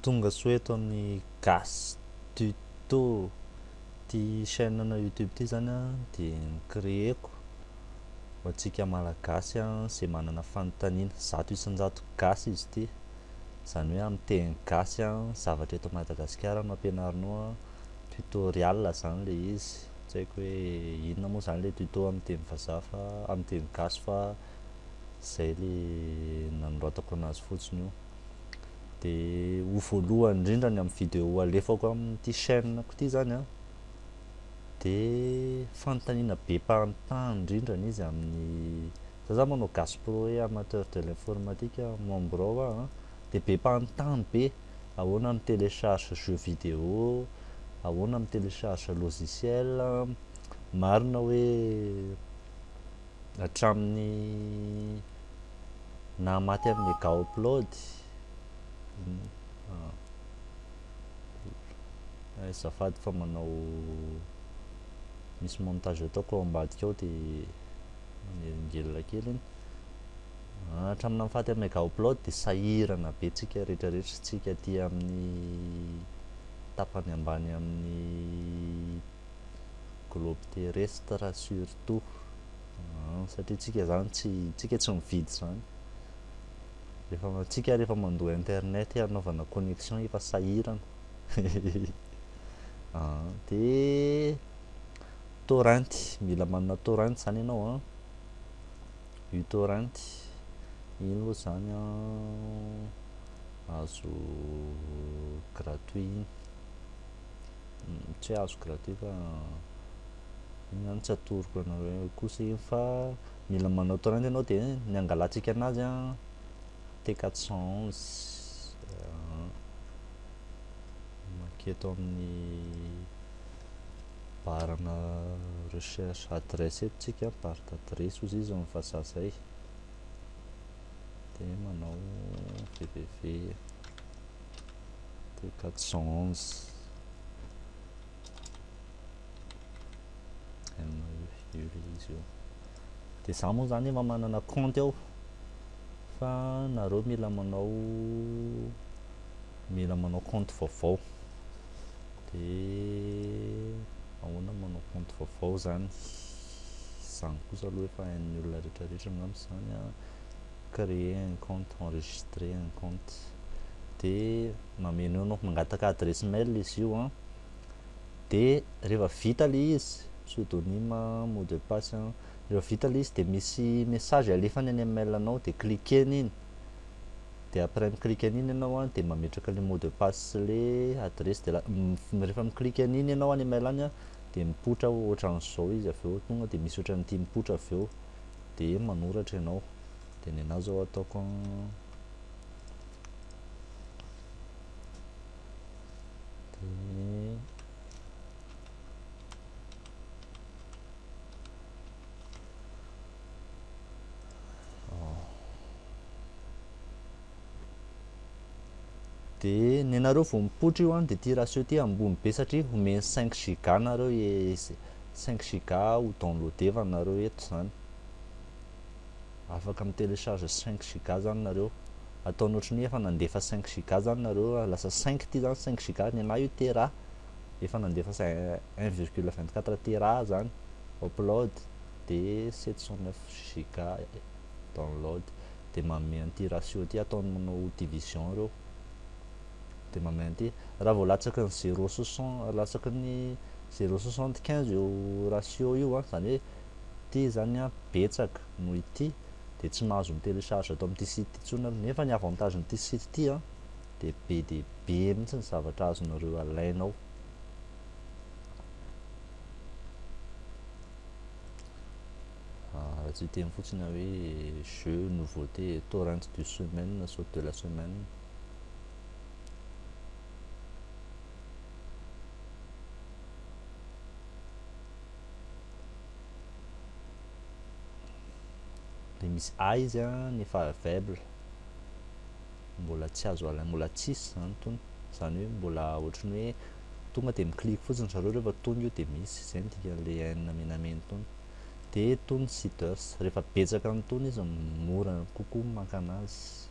Tonga soa eto amin'ny Gas Tuto. Ty chaîne na YouTube ty zany dia ni-créer-ko ho antsika Malagasy izay manana fanontaniana. Zato isan-jato Gasy izy ity. Izany hoe amin'ny teny Gasy, zavatra eto Madagasikara no ampianarinao, tutorial izany ilay izy. tsy haiko hoe inona moa zany le tuto amin'ny teny vazaha fa amin'ny teny gasy fa zay le nanoratako anazy fotsiny io de ho voalohany indrindra ny amin'ny vidéo alefako amin'ity chaîne ko ty zany a de fanontaniana be mpagnotany indrindra ny izy amin'ny za za manao gasy pro hoe amateur de l'informatique membre ao aho Dia be mpanontany be, ahoana mi telecharge jeux vidéo, ahoana mi telecharge logiciel, marina hoe hatramin'ny naha maty an'i Megaupload, eh azafady fa manao misy montage ataoko ao ambadika ao dia manelingelina kely iny. Hatramina mifaty am mega upload de sahirana be tsika rehetra rehetra tsika aty aminy tapany ambany aminy globe terrestre surtout an satria tsika zany tsy tsika tsy mividy zany rehefa tsika rehefa mandoa internet hanaovana connexion efa sahirana an de torrent mila manana torrent zany ianao an Utorrent, iny moa izany azo gratuit iny, tsy hoe azo gratuit fa iny izany tsy atoroko anareo eo kosa iny fa mila manao torrent ianao dia ny hangalantsika an'azy an, T 411, mankety ao amin'ny. barana recherche adresse eto tsika bar d'adresse ozy izy ny vazaha zay de manao www de 411 de za moa zany efa manana compte ao fa nareo mila manao mila manao compte vaovao dia ahoana ny manao compte vaovao izany izany kosa aloha efa hain'ny olona rehetrarehetra angamba izany a créer un compte enregistrer un compte dia mameno eo mangataka adresse mail izy io an dia rehefa vita ilay izy pseudonyme mot de passe an rehefa vita ilay izy dia misy message alefany any amin'ny mail anao dia cliquer iny de après mi-clique an'iny ianao an de mametraka le mot de passe sy le adresse de rehefa mi-clique an'iny ianao any email any an de mipoitra ohatran'izao izy avy eo tonga de misy ohatran'ity mipoitra avy eo de manoratra ianao de ny anah zao ataoko an de dia nenareo vao mipoitra io an dia ty ratio ty ambony be satria homeny 5 giga nareo 5 e, giga ho downloadevana nareo eto zany afaka mi télécharge 5 giga zany nareo ataony ohatry ny efa nandefa 5 giga zany nareo lasa 5 ty zany 5 giga ny anah io tera efa nandefa 1,24 tera zany upload de 709 giga download de manome an'ity ratio ty ataony manao division ireo de manome an'ity raha vao latsaky ny 0 60 latsaky ny 0,75 io ratio io an zany hoe ty zany an betsaka noho ity de tsy mahazo mi-télécharge ato amin'ity site intsony aloha nefa ny avantage n'ity site ty an de be de be mihitsy ny zavatra azonareo alaina ao raha tsy hiteny fotsiny aho hoe jeu nouveauté torrent du semaine na saute de la semaine dia misy a izy a ny favable mbola tsy azo alaina mbola tsisy izany tony izany hoe mbola ohatran'ny hoe tonga dia mi-click fotsiny ry zareo rehefa tonga io dia misy, izay no dikan'ilay haine menamena itony. Dia itony seeders, rehefa betsaka an'itony izy mora kokoa ny maka an'azy.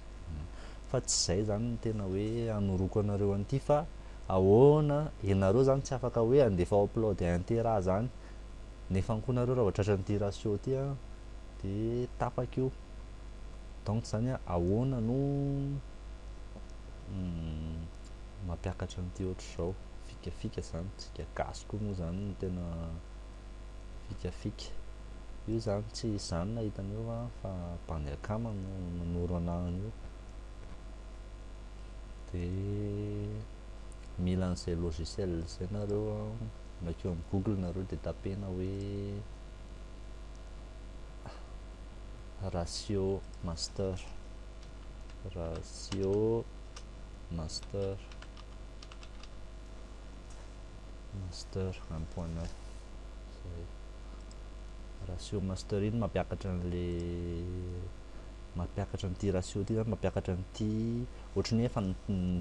Fa tsy izay izany no tena hoe hanoroko anareo an'ity fa ahoana, ianareo izany tsy afaka hoe handefa ao upload inter ahy izany nefany koa nareo raha vao tratra an'ity ratio ity an, dia tapaka io. Donc izany hoe ahoana no mampiakatra an'ity ohatr'izao fikafika zany tsika gasy koa moa zany no tena fikafika io zany tsy izany na hitan'io va fa bandy akama no nanoro anahany io de mila an'izay logiciel zay nareo makeo am google nareo de tapena hoe ratio master ratio master master un point neuf zay ratio master iny mampiakatra an'le mampiakatra an'ity ratio ty zany mampiakatra an'ity ohatry ny efa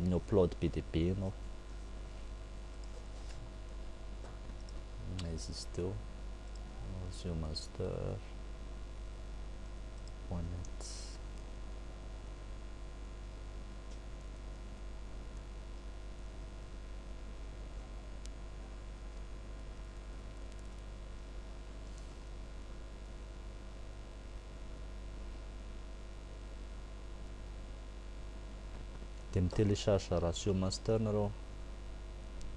ny upload be dia be ianao izy izy teo ratio master point net dia mi télécharge ratio master nareo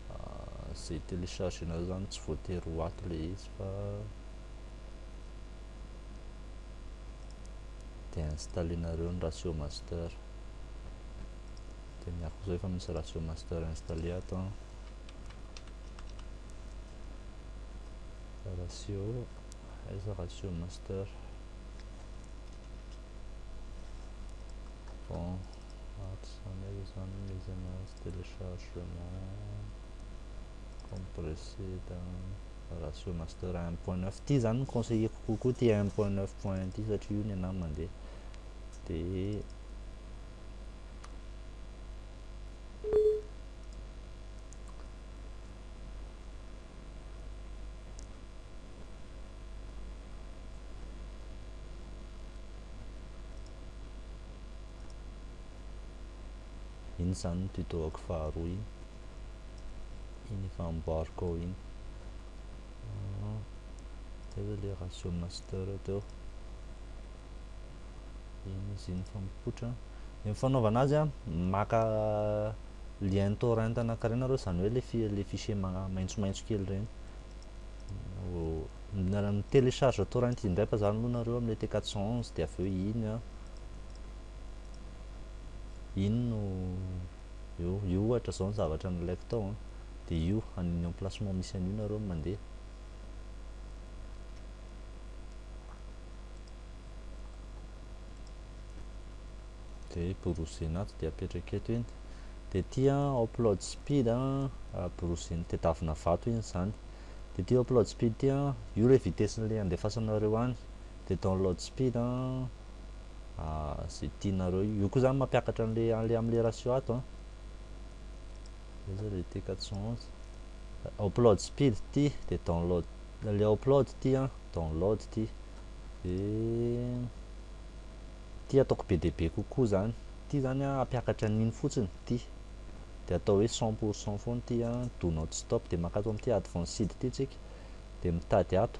ah, zay télécharge nareo zany tsy voatery ho ato le izy fa dia installenareo ny ratio master dia miaraka izao efa misy ratio master installé ato an ratio aiza ratio master bon ato izany aiza izany ny izy anazy téléchargement compressé Voilà sur master un point neuf ity zany ny conseilleko kokoa ity un point neuf point ity satria io ny anah mandeha dia iny zany ny tuto-ako faharoa iny iny efa amboariko ao iny ah, zay ve le ratio master teo iny izy iny fa mipoitra ny fanaovana azy a maka lien torrent anankiray nareo izany hoe le fichier maitsomaitso kely ireny télécharge torrent indray fa zany aloha nareo amle t 411 dia avy eo iny a iny no io io ohatra zao ny zavatra nilaiko tao an dia io an'ny emplacement misy an'io nareo no mandeha dia browsena ato dia apetraka eto iny dia ity an upload speed an ah, browsena tedavina vato iny izany dia ity upload speed ity an io ilay vitesse-n'ilay andefasanareo any dia download speed an ah, ze tianareo io koa zany mampiakatra an'le an'le am'le ratio ato an désolé t 411 upload speed ty de download le upload ty an download ty de ty ataoko be dia be kokoa zany ty zany an ampiakatra an'iny fotsiny ty de atao hoe 100 pour 100 foana ty an do not stop de makato am'ty advanced ty tsika de mitady ato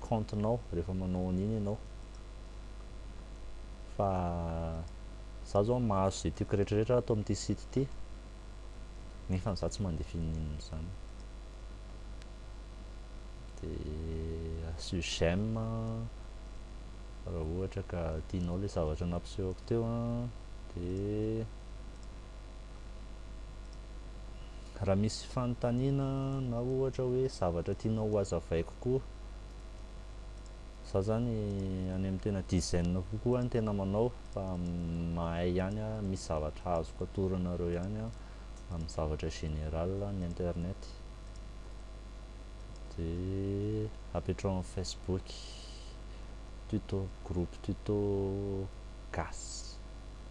compte nao rehefa manao an'iny ianao fa za zao mahazo izay tiako rehetrarehetra ato amin'ity site ity nefa za tsy mandeha fininana izany dia asio j'aime raha ohatra ka tianao ilay zavatra nampisehoko teo dia Raha misy fanontaniana na ohatra hoe zavatra tianao ho azavaiko koa, za zany any amin'ny tena dizaine kokoa ny tena manao fa mahay ihany aho, misy zavatra azoko atoro anareo ihany aho amin'ny zavatra général ny internet, dia apetraho amin'ny facebook, tuto, groupe tuto gasy.